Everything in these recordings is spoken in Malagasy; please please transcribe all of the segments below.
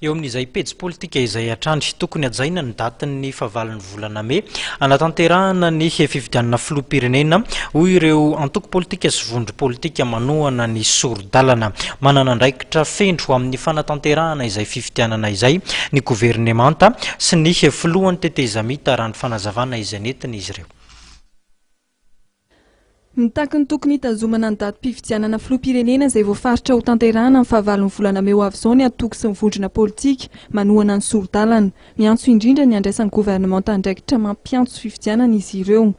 Eo amin'izay pejy politika izay hatrany, tokony hajaina ny datin'ny fahavalon'ny volana mey hanatanterahana ny fifidianana filoham-pirenena, hoy ireo antoko politika sy vondro politika manohana ny sori-dalana. Manana andraikitra feno amin'ny fanatanterahana izay fifidianana izay ny governemanta sy ny filohan'ny tetezamita, raha ny fanazavana izay nentin'izy ireo. Mitaky ny tokony hitazomana ny datim-pifidianana filoham-pirenena izay voafaritra ho tanterahana amin'ny fahavalon'ny volana mey ho avy izao ny antoko sy ny vondrona politika manohana ny sori-dalana. Miantso indrindra ny handraisan'ny governemanta andraikitra mampiantso fifidianana izy ireo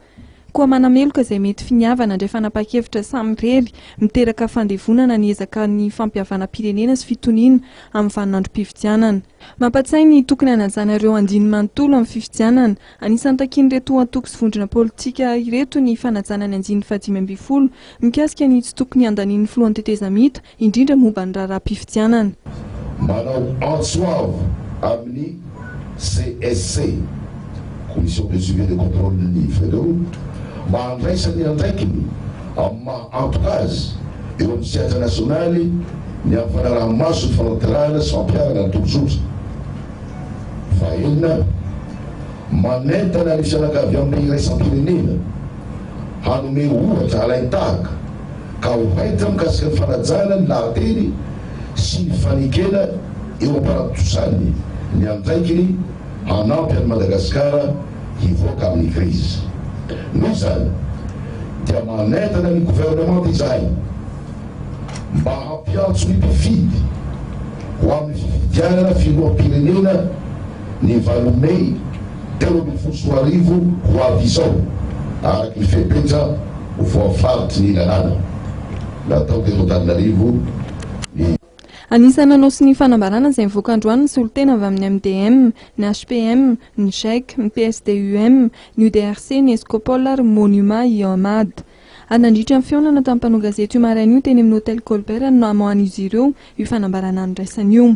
koa manameloka izay mety finiavana handray fanapahan-kevitra samirery miteraka fandevonana ny ezaka ny fampihavanam-pirenena sy fitoniana amin'ny vaninandrom-pifidianana. Mampatsiahy ny tokony hanajana ireo andininy manontolo amin'ny fifidianana Anisan'ny takian'ireto antoko sy vondrona politika ireto ny fanajana ny andiany fahadimy ambin'ny folo mikasika ny tsy tokony handanian'ny filohan'ny tetezamita, indrindra momba ny raharaham-pifidianana. Manao antso avo amin'ny CSC, Commission de suivi et de contrôle, ny FREDO mba handraisany andraikiny amin'ny maha antoka azy eo amin'ny sehatra nasionaly ny amin'ny fanaraha-maso ny fanatanterahana sy fampiharana ny tobin-tsotra. Fahaenina, manentana ny fianakaviambe iraisam-pirenena hanome ohatra halain-tahaka ka ho haitra mikasika ny fanajana ny lahateny sy ny fanekena eo am-panatontosany ny andraikiny hanampy an'i Madagasikara hivoaka amin'ny krizy. Noho izany dia manentana ny governemanta izahay, mba hampiantso ny mpifidy ho amin'ny fifidianana filoham-pirenena ny valo mey telo ambin'ny folo sy roa arivo ho avy izao, araka ny fepetra voafaritry ny lalàna natao teto Antananarivo. Ny. Anisan'ny nanao sonia fanambarana izay mivoaka androany ny solontena avy amin'ny MDM, ny HPM, ny Gec, ny PSD-UM, ny UDRC, ny Escopol ary ny Monima i Ahmad. Ary nandritra ny fihaonana tamin'ny mpanao gazety io maraina io teny amin'ny Hotel Colbert no namoahan'izy ireo io fanambarana niraisana io.